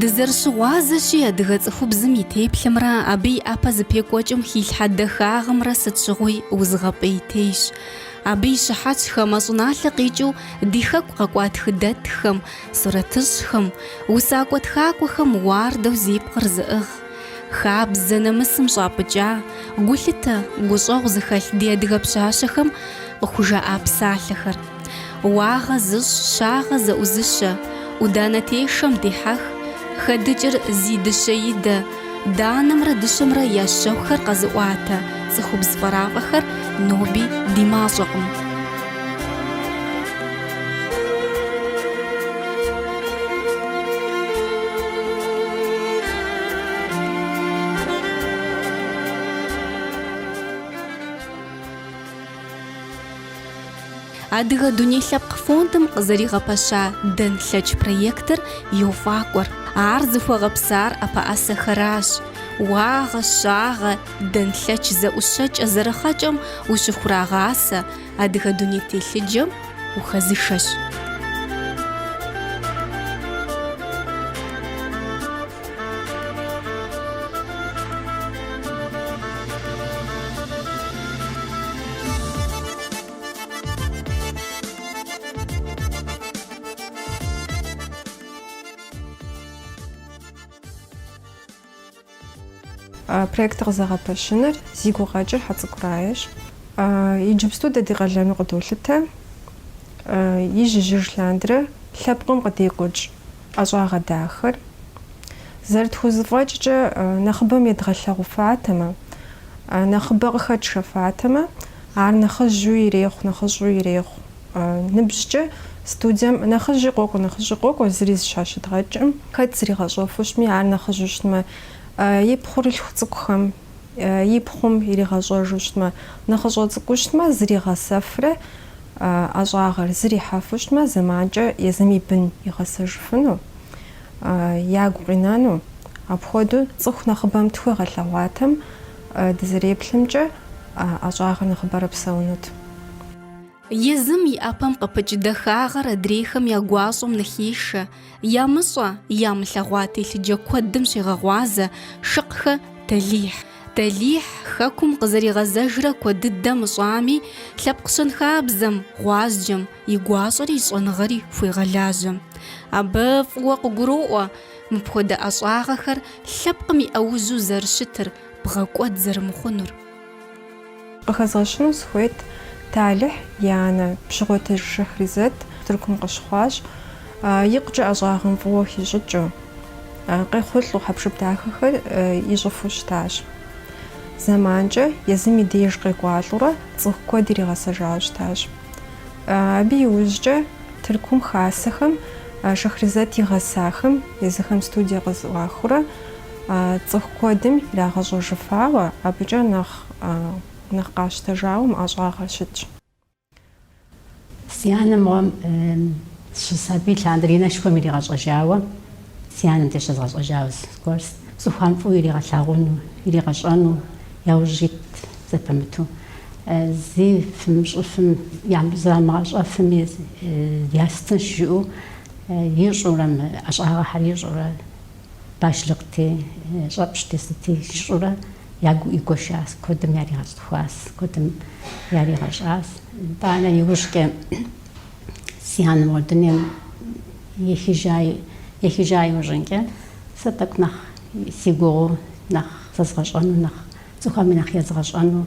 Дызэрыщыгъуазэщи, адыгэ цӏыхубзым и теплъэмрэ абы и ӏэпэ зыпекӏуэкӏым хилъхьэ дахагъымрэ сыт щыгъуи узыгъэпӏейтейщ. Абы и щыхьэтщ хамэ щӏыналъэ къикӏыу ди хэку къэкӏуа тхыдэтхэм, сурэтыщӏхэм, усакӏуэ тхакӏуэхэм уардэу зи пкъыр зыӏыгъ, хабзэ нэмысым щӏапӏыкӏа, гулъытэ, гущӏэгъу зыхэлъ ди адыгэ пщащэхэм къыхужаӏа псалъэхэр. Уагъэ зыщӏ, щагъэ зэӏузыщэ, ӏуданэ тешэм дихьэх, хэдыкӏыр зи дыщэидэ, данэмрэ дыщэмрэ я щэхухэр къэзыӏуатэ цӏыхубз фӏэрафӏэхэр ноби ди мащӏэкъым. Адыгэ дуней лъэпкъ фондым къызэригъэпэща Дэнлъэч проектыр йофӏакӏуэр. Ар зыхуэгъэпсар ӏэпэӏэсэхэращ, уагъэ, щагъэ, дэнлъэч зэӏущэкӏэ зэрыхъэкӏэм ущыхурагъасэ, адыгэ дуней телъыджэм ухэзышэщ. Проектыр къызэгъэпэщыныр зи гукъэкӏыр Хьэцӏыкӏу Раещ. Иджыпсту дэ ди къалэну къыдолъытэ ижь-ижьыж лъандэрэ лъэпкъым къыдекӏуэкӏ. ӏэщӏагъэ дахэр зэрытхузэфӏэкӏкӏэ, нэхъыбэм едгъэлъэгъуфатэмэ, нэхъыбэ къыхэтшэфатэмэ, ар нэхъыжьу ирехъу, нэхъыщӏу ирехъу. Ныбжькӏэ студием нэхъыжьи къокӏуэ, нэхъыщӏи къокӏуэ, зыри зыщхьэщыдгъэкӏкъым. Хэт зригъэщӏэфу щытми, ар нэхъыжьу щытмэ, и пхъурылъху цӏыкӏухэм, и пхъум иригъэщӏэжу щытмэ, нэхъыщӏэ цӏыкӏуу щытмэ, зригъэсэфрэ. ӏэщӏагъэр зэрихьэфу щытмэ, зэманкӏэ езым и бын игъэсэжыфыну, ягу къинэну, апхуэдэу цӏыху нэхъыбэм тхуегъэлъэгъуатэм дызэреплъымкӏэ ӏэщӏагъэр нэхъыбэрэ псэунут. Езым и ӏэпэм къыпыкӏ дахагъэр адрейхэм я гуащӏэм ныхешэ, Ямыщӏэ, ямылъэгъуа телъыджэ куэдым щегъэгъуазэ Шыкъхэ Далихь. Далихь Хэкум къызэригъэзэжрэ куэд дыдэ мыщӏами, лъэпкъ щэнхабзэм, гъуазджэм, и гуащӏэри и щӏэныгъэри хуегъэлажьэ. Абы фӏыуэ къыгуроӏуэ мыпхуэдэ ӏэщӏагъэхэр лъэпкъым и ӏэужьу зэрыщытыр, бгъэкӏуэд зэрымыхъунур. Къыхэзгъэщыну сыхуейт, Талыхь и анэ Пщыгъуэтыж Шахризэт Тыркум къыщыхъуащ, икъукӏэ ӏэщӏагъэм фӏыуэ хищӏыкӏыу, къехъулӏэу хьэпшып дахэхэр ищӏыфу щытащ. Зэманкӏэ езым и деж къекӏуалӏэурэ цӏыху куэд иригъэсэжауэ щытащ. Абы иужькӏэ Тыркум хасэхэм Шахризэт игъэсахэм езыхэм студие къызэӏуахыурэ Цӏыху куэдым ирагъэщӏэжыфауэ, абыкӏэ нэхъ нэхъ къащтэжауэ мы ӏэщӏагъэр щытщ. Си анэм гъуэм щысабий лъандэрэ и анэшхуэм иригъэщӏэжауэ, си анэм деж щызгъэщӏэжауэ зыгуэр цӏыхуам фӏыуэ иригъэлъагъуну, иригъэщӏэну яужь ит зэпымыту. Зыфэмыщӏыфым, зрамыгъэщӏэфыми ястынщ жыӏэу ищӏурэ, мы ӏэщӏагъэхэр ищӏурэ. Башлыкъти, щӏэпщти, сыти ищӏурэ яхуигуэшащ, куэдым яригъэцӏыхуащ, куэдым яригъэщӏащ. Итӏанэ иужькӏэ си анэ моуэ дунейм ехыжа, ехыжа иужьынкӏэ, сэ тӏэкӏу нэхъ сегугъуу, нэхъ зэзгъэщӏэну, нэхъ цӏыхухэми нэхъ езгъэщӏэну,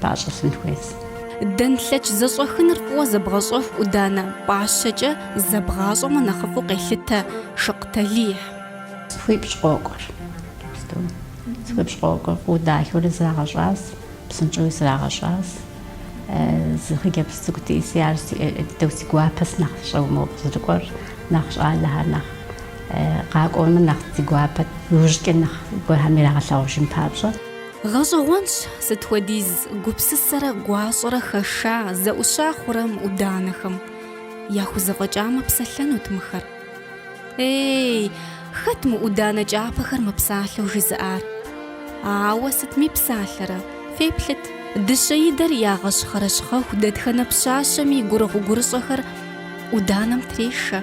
пӏащӏэ лъын хуейщ. Дэнлъэч зэщӏэхыныр фӏыуэ зэбгъэщӏэху ӏуданэ пӏащэкӏэ зэбгъащӏэмэ нэхъыфӏу къелъытэ Шыкъ Талихь. Цӏыхуипщӏ къокӏуэр. Цӏыхуипщӏ къокӏуэр фӏыуэ дахэурэ зрагъэщӏащ, псынщӏэуи зрагъэщӏащ. Зы хъыджэбз цӏыкӏу диӏэси, ар дыдэу си гуапэщ, нэхъыщӏэу мобы зэрыкӏуэр, нэхъ щӏалэхэр нэхъ къакӏуэмэ нэхъ си гуапэт, иужькӏэ нэхъ гуэрхэм ирагъэлъагъужын папщӏэ. Гъэщӏэгъуэнщ, сыт хуэдиз гупсысэрэ гуащӏэрэ хэша, зэӏуща хъурэ мы ӏуданэхэм. Яхузэфӏэкӏамэ, псэлъэнут мыхэр. Ей, хэт мы ӏуданэ кӏапэхэр мэпсалъэу жызыӏар? Ауэ сытми псалъэрэ, феплъыт. Дыщэидэр ягъэщхъэрэ щхъэху дэтхэнэ пщащэми гурыгъу-гурыщӏэхэр ӏуданэм трешэ.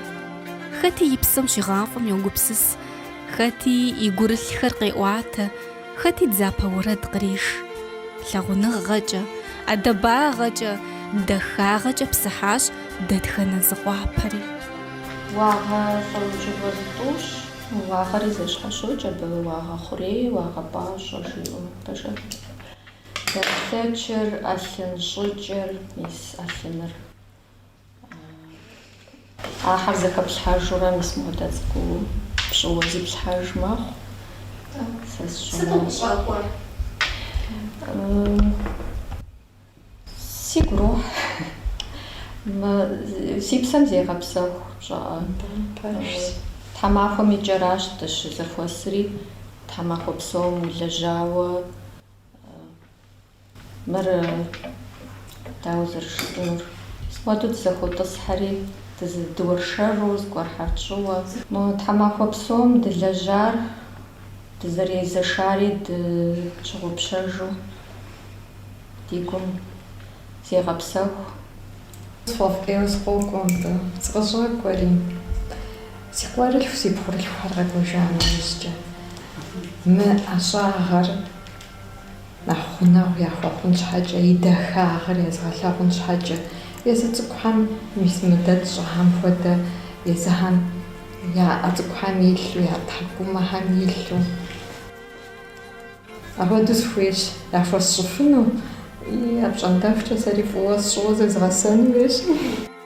Хэти и псэм щигъафӏэм йогупсыс, хэти и гурылъхэр къеӏуатэ. Хэти дзапэ уэрэд къреш. Лъагъуныгъэкӏэ, ӏэдэбагъэкӏэ, дахагъэкӏэ псыхьащ дэтхэнэ зы къуапэри. Уагъэ щӏэуджыгъуэ зытӏущ. Уагъэри зэщхьэщокӏ абы, уагъэ хъурей, уагъэ пӏащӏэ жиӏэу. Пэжалъэ. Дэнлъэчыр, ӏэлъын щӏыкӏэр, мис ӏэлъыныр. Ахэр зэхэплъхьэжурэ мис мыдэ цӏыкӏуу пщӏыуэ зиплъхьэж мэхъу. Сэ сщӏэрэ. Сыту къыщӏэкӏуэр? Сигу рохь. Си псэм зегъэпсэху пщӏыӏэ. Пэжщ. Тхьэмахуэм и кӏэращ дыщызэхуэсри, тхьэмахуэ псом улэжьауэ. Мыр дауэ зэрыжысӏэнур? Сыт хуэдэу дызэхуотӏысхьэри, дызэдэуэршэру, зыгуэрхэр тщӏыуэ? Мо тхьэмахуэ псом дылэжьар, дызэрезэшари тщыгъупщэжу ди гум зегъэпсэху. Сфӏэфӏкӏейуэ сыкъокӏуэ мыбы, сыкъыщӏэкӏуэри, си къуэрылъху, си пхъурылъхухэр къэкӏуэжа нэужькӏэ, мы ӏэщӏагъэр. Нэхъ гъунэгъу яхуэхъун щхьэкӏэ, и дахагъыр езгъэлъагъун щхьэкӏэ, езы цӏыкӏухэм мис мыдэ тщӏыхэм хуэдэ езыхэм я ӏэ цӏыкӏухэм илъу, я тхьэкӏумэхэм илъу. Апхуэдэу сыхуейщ яхуэсщӏыфыну, и апщӏондэхукӏэ сэри фӏыуэ сщӏыуэ зезгъэсэну хуейщ.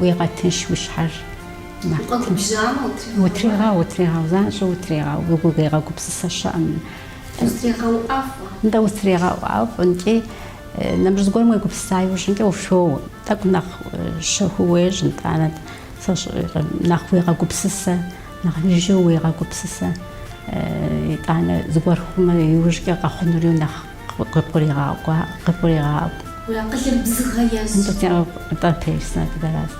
Уегъэтынш уи щхьэр. Укъэгубжьамэ, утрегъэу. Утрегъэу, утрегъэу, занщӏэу утрегъэу, уи гугъу егъэгупсысэ щыӏэм. Утрегъэу ӏэфӏу. Нтӏэ, утрегъэу ӏэфӏу, нтӏи, нэмыщӏ зыгуэрым уегупсыса иужьымкӏэ ущоуэ. Тӏэкӏу нэхъ щэхуу уещӏ, нтӏанэ, сэ щӏыӏуи, нэхъ уегъэгупсысэ. Нэхъ жыжьэу уегъэгупсысэ, итӏанэ зыгуэр хъумэ, иужькӏэ къэхъунури нэхъ къыбгурегъаӏуэ. Уи акъылыр бзыгъэ ещӏ. Нтӏэ, теснэ дыдэраст.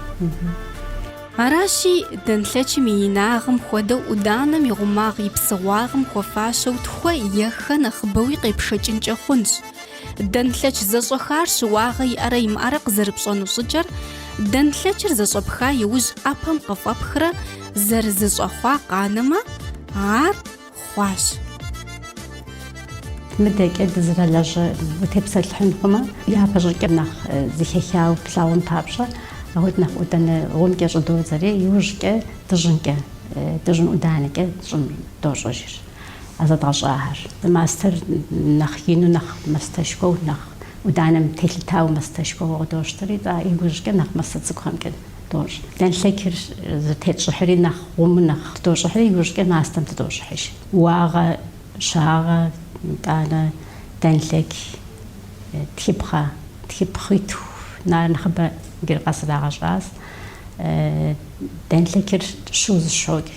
Аращи, дэнлъэчым и инагъым хуэдэу ӏуданэм и гъумагъ и псыгъуагъым хуэфащэу тхуэ е хэ нэхъыбэуи къепшэкӏынкӏэ хъунщ. Дэнлъэч зэщӏэхар щыуагъэ иӏэрэ имыӏэрэ къызэрыпщӏэну щӏыкӏэр, дэнлъэчыр зэщӏэпха иужь ӏэпэм къыфӏэпхрэ зэрызэщӏэхъуа къанэмэ, ар хъуащ. Мыдэкӏэ дызэрылажьэ утепсэлъыхьын хъумэ, япэщӏыкӏэ нэхъ зыхехауэ плъагъун папщӏэ, ахуэдэ нэхъ ӏуданэ гъумкӏэ щӏыдодзэри, иужькӏэ дыжьынкӏэ, дыжьын ӏуданэкӏэ тщӏын дощӏыжыр. А зэдгъэщӏахэр. Мастэр нэхъ ину, нэхъ мастэшхуэу, нэхъ ӏуданэм телъытауэ мастэшхуэу къыдощтэри, тӏэ иужькӏэ нэхъ мастэ цӏыкӏухэмкӏэ дощӏ. Дэнлъэкыр зытетщӏыхьри нэхъ гъуму нэхъ тыдощӏыхьри, иужькӏэ мастэм тыдощӏыхьыж. Уагъэ, щагъэ, итӏанэ дэнлъэк, тхыпхъэ, тхыпхъитху, нар нэхъыбэ гыр къэс ирагъэщӏащ. Дэнлъэкыр щыуэ зэщхьэщокӏ.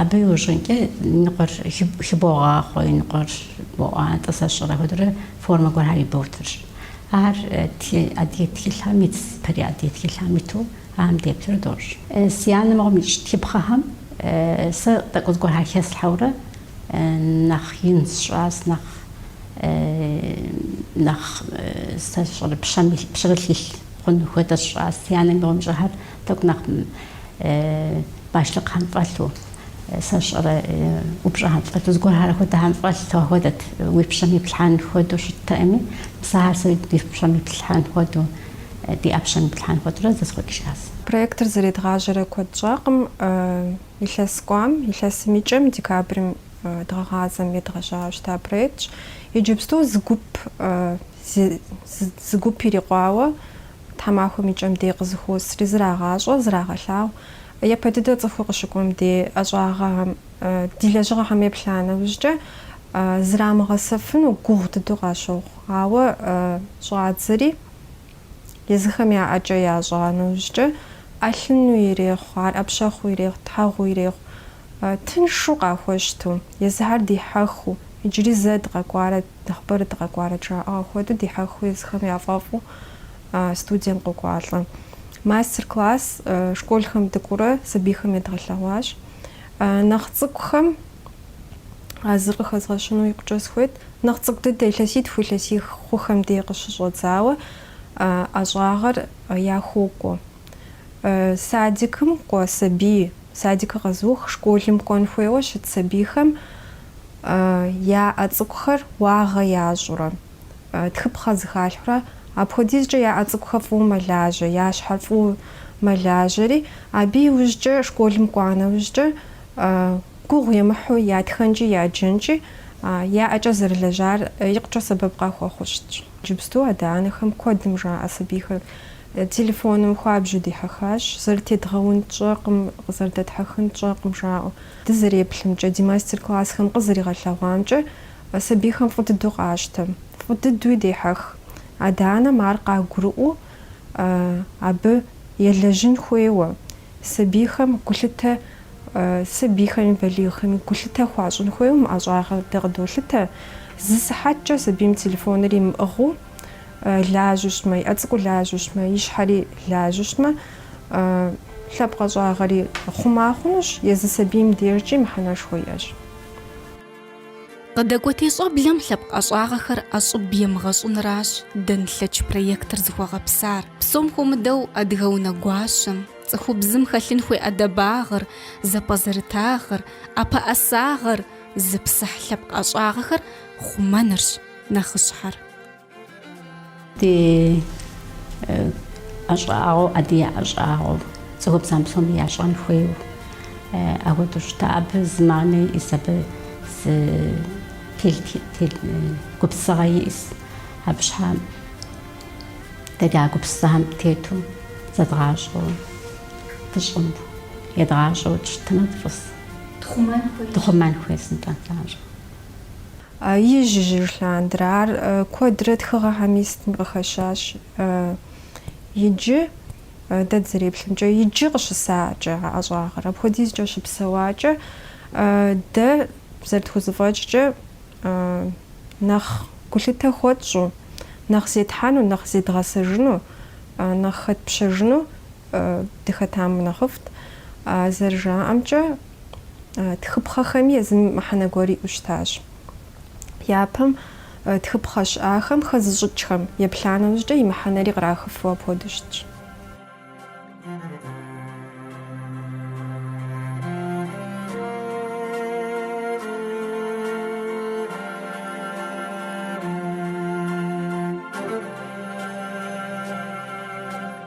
Абы иужьынкӏэ ныкъуэр хыбогъахъуэ, и ныкъуэр боӏуантӏэ, сэ сщӏэрэ, апхуэдэурэ формэ гуэрхэр иботыр. Ахэр адыгэ тхылъхэм итщ, дэри адыгэ тхылъхэм иту ахэм деплъурэ дощӏ. Си анэ мыгъуэм ищӏ тхыпхъэхэм, сэ тӏэкӏу зыгуэрхэр хеслъхьэурэ нэхъ ин сщӏащ, нэхъ, нэхъ, сэ сщӏэрэ, пщэрылъ илъ хъуну хуэдэ сщӏащ. Си анэ мыгъуэм ищӏэхэр. Тӏэкӏу нэхъ бащлъыкъхэм фӏэлъу, сэ сщӏэрэ, упщӏэхэм фӏэлъу, зыгуэрхэр хуэдэхэм фӏэлъ хуэдэт, уи пщэм иплъхьэн хуэдэу щыттэкъыми, сэ ахэр сэ ди пщэм иплъхьэн хуэдэу, ди ӏэпщэм иплъхьэн хуэдэурэ зэсхъуэкӏыжащ. Проектыр зэредгъажьэрэ куэд щӏакъым. Илъэс кӏуам, илъэсым и кӏэм, декабрым дгъэгъазэм едгъэжьауэ щыта проектщ. Иджыпсту зы гуп, зы гуп ирикъуауэ Тхьэмахуэм и кӏэм дей къызыхуосри, зрагъащӏэ, зрагъэлъагъу. Япэ дыдэ цӏыхур къыщыкӏуэм дей ӏэщӏагъэхэм, ди лэжьыгъэхэм еплъа нэужькӏэ, зрамыгъэсэфыну гугъу дыдэу къащохъу. Ауэ щӏадзэри, езыхэм я ӏэкӏэ ящӏа нэужькӏэ, ӏэлъыну ирехъу, ар ӏэпщэхъуу ирехъу, тхьэгъуу ирехъу, тыншу къахуэщту, езыхэр дихьэхыу. Иджыри зэ дыкъэкӏуарэт, нэхъыбэрэ дыкъэкӏуарэт жаӏэгъэ хуэдэу дихьэхыу езыхэм яфӏэфӏу студием къокӏуалӏэ. Мастер-класс школхэм дыкӏуурэ сабийхэм едгъэлъэгъуащ. Нэхъ цӏыкӏухэм а зыр къыхэзгъэщыну икъукӏэ схуейт. Нэхъ цӏыкӏу дыдэ, илъэситху илъэсих хъухэм дей къыщыщӏэдзауэ ӏэщӏагъэр яхуокӏуэ. Садикым кӏуэ сабий, садикыр къэзыух, школым кӏуэн хуейуэ щыт сабийхэм Я ӏэ цӏыкӏухэр уагъэ ящӏурэ, тхыпхъэ зыхалъхьурэ, апхуэдизкӏэ я ӏэ цӏыкӏухэр фӏыуэ мэлажьэ, я щхьэр фӏыуэ мэлажьэри, абы иужькӏэ, школым кӏуа нэужькӏэ, гугъу емыхьу я тхэнкӏи я джэнкӏи, я ӏэкӏэ зэрылэжьар икъукӏэ сэбэп къахуэхъуу щытщ. Иджыпсту адэ-анэхэм куэдым жаӏэ сабийхэр телефоным хуабжьу дихьэхащ, зэрытедгъэун тщӏэкъым, къызэрыдэтхьэхын тщӏэкъым жаӏэу. Дызэреплъымкӏэ, ди мастер-классхэм къызэригъэлъэгъуамкӏэ, сабийхэм фӏы дыдэу къащтэ, фӏы дыдуи дехьэх. Адэ-анэм ар къагурыӏуэу, абы елэжьын хуейуэ, сабийхэм гулъытэ, сабийхэми балигъхэми гулъытэ хуащӏын хуейуэ мы ӏэщӏагъэр дэ къыдолъытэ. Зы сыхьэткӏэ сабийм телефоныр имыӏыгъыу. лажьэу щытмэ, и ӏэ цӏыкӏур лажьэу щытмэ, и щхьэри лажьэу щытмэ, лъэпкъ ӏэщӏагъэри хъума хъунущ, езы сабийм дежкӏи мыхьэнэшхуэ иӏэщ. Къыдэкӏуэтей щӏэблэм лъэпкъ ӏэщӏагъэхэр ӏэщӏыб емыгъэщӏыныращ Дэнлъэч проектыр зыхуэгъэпсар. Псом хуэмыдэу адыгэ унэгуащэм, цӏыхубзым хэлъын хуей ӏэдэбагъыр, зэпӏэзэрытагъыр, ӏэпэӏэсагъэр зыпсыхь лъэпкъ ӏэщӏагъэхэр хъумэнырщ нэхъыщхьэр. Ди ӏэщӏагъэу, адыгэ ӏэщӏагъэу, цӏыхубзам псоми ящӏэн хуейуэ. Ахуэдэу щыта абы зы манэ иӏис, абы зы гупсыгъэ иӏис. Абы щхьа дэри а гупсыгъэм тету зэдгъащӏэу дыщӏын, едгъащӏэу дыщытмэ дыфӏыс. Тхъумэн хуейс, нтӏэ. Ижь-ижьыж лъандэрэ ар куэдрэ тхыгъэхэми сытми къыхэщащ. Иджы, дэ дызэреплъымкӏэ, иджы къыщысакӏэ а ӏэщӏагъэр. Апхуэдизкӏэ щыпсэуакӏэ, дэ зэрытхузэфӏэкӏкӏэ нэхъ гулъытэ хуэтщӏу, нэхъ зетхьэну, нэхъ зедгъэсэжыну, нэхъ хэтпщэжыну дыхэтам нэхъыфӏт. Зэрыжаӏэмкӏэ. Тхыпхъэхэми езым мыхьэнэ гуэр иӏэу щытащ. Япэм тхыпхъэ щыӏахэм хэзыщӏыкӏхэм еплъа нэужькӏэ и мыхьэнэри кърахыфу апхуэдэу щытщ.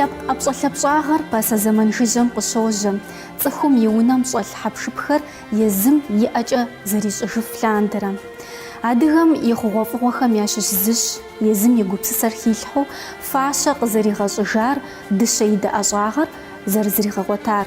Лъэпкъ ӏэпщӏэлъапщӏагъэр пасэ зэман жыжьэм къыщожьэ, цӏыхум и унэм щӏэлъ хьэпшыпхэр езым и ӏэкӏэ зэрищӏыжыф лъандэрэ. Адыгэм и хъугъуэфӏыгъуэхэм ящыщ зыщ, езым и гупсысэр хилъхьэу фащэ къызэригъэщӏыжар, дыщэидэ ӏэщӏагъэр зэрызригъэгъуэтар.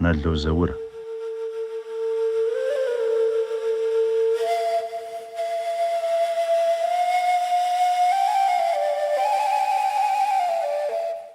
Нало Заур.